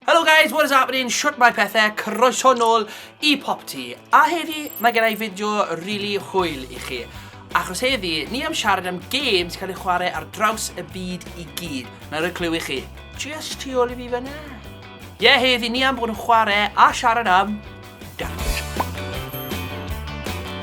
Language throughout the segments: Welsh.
Helo guys, what is happening? Shwt mae pethau? Croeso nôl i Popty. A heddi, mae gen i fideo really hwyl i chi. Achos heddi, ni am siarad am games cael ei chwarae ar draws y byd i gyd. Na rhoi clyw i chi. Just tu ôl i fi fyna. Ie, yeah, heddi, ni am bod yn chwarae a siarad am dawns.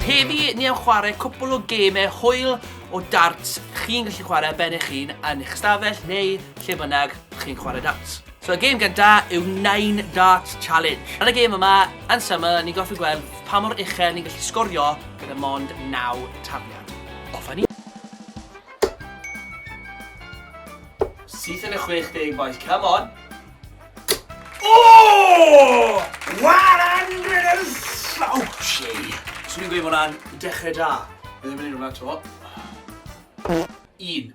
Heddi, ni am chwarae cwpl o gemau hwyl o darts chi'n gallu chwarae ben eich hun yn eich stafell neu lle bynnag chi'n chwarae darts. So y gêm gynta yw Nine Darts Challenge. Ar y gêm yma, yn syml, ni'n gorfod gweld pa mor uchel ni'n gallu sgorio gyda mond 9 tafliad. Off a ni! Syth yn y 60, boys, come on! Oh! 100 Ouch! Swn i'n gweud bod hwnna'n dechrau da. Bydd yn mynd i hwnna to. Un.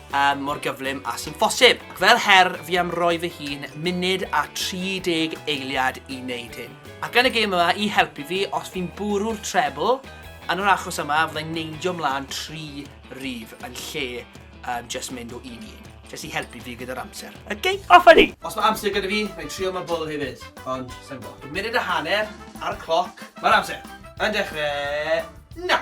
um, mor gyflym a sy'n ffosib. Ac fel her, fi am roi fy hun munud a 30 eiliad i wneud hyn. Ac yn y gêm yma, i helpu fi, os fi'n bwrw'r trebl, yn yr achos yma, fyddai'n neidio mlaen tri rif yn lle um, just mynd o un i un. Jyst i helpu fi gyda'r amser. Okay, off a ni! Os mae amser gyda fi, mae'n trio mae bol hefyd. Ond, sa'n gwybod. Munud a hanner ar y cloc. Mae'r amser yn dechrau... Na!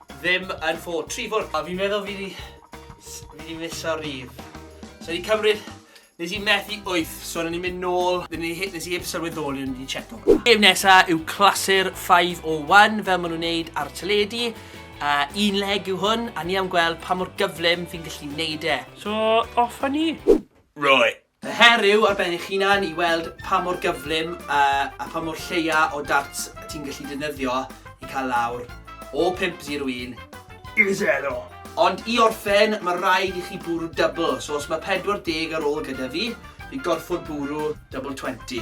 ddim yn ffo tri fwrdd. A fi'n meddwl fi di... fi di misio rydd. So i cymryd... nes i methu wyth, so o'n i'n mynd nôl, nes i heb sylweddoli o'n i di checo hwnna. Gêm nesa yw clasur 501 fel maen nhw'n neud ar y teledu. Uh, un leg yw hwn, a ni am gweld pa mor gyflym fi'n gallu neud e. So, off a ni! Right, Yr her yw ar ben eich hunan i weld pa mor gyflym a pha mor lleia o darts ti'n gallu defnyddio i cael lawr o 5-01 i 0. Ond i orffen, mae rhaid i chi bwrw dybl, so os mae 40 ar ôl gyda fi, fi gorfod bwrw dybl 20.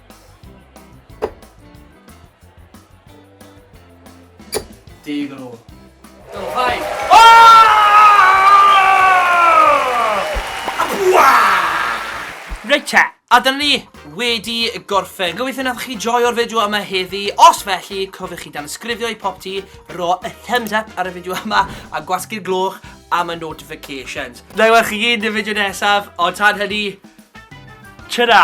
Deg yn ôl. Dylhau! Reit te, a dyna ni wedi gorffen. Gobeithio nathoch chi joio'r fideo yma heddi. Os felly, cofiwch chi dan ysgrifio i pop ti, ro y thumbs up ar y fideo yma, a gwasgu'r gloch am y notifications. Na i weld chi gyd yn y fideo nesaf, ond tan hynny, ta-ra!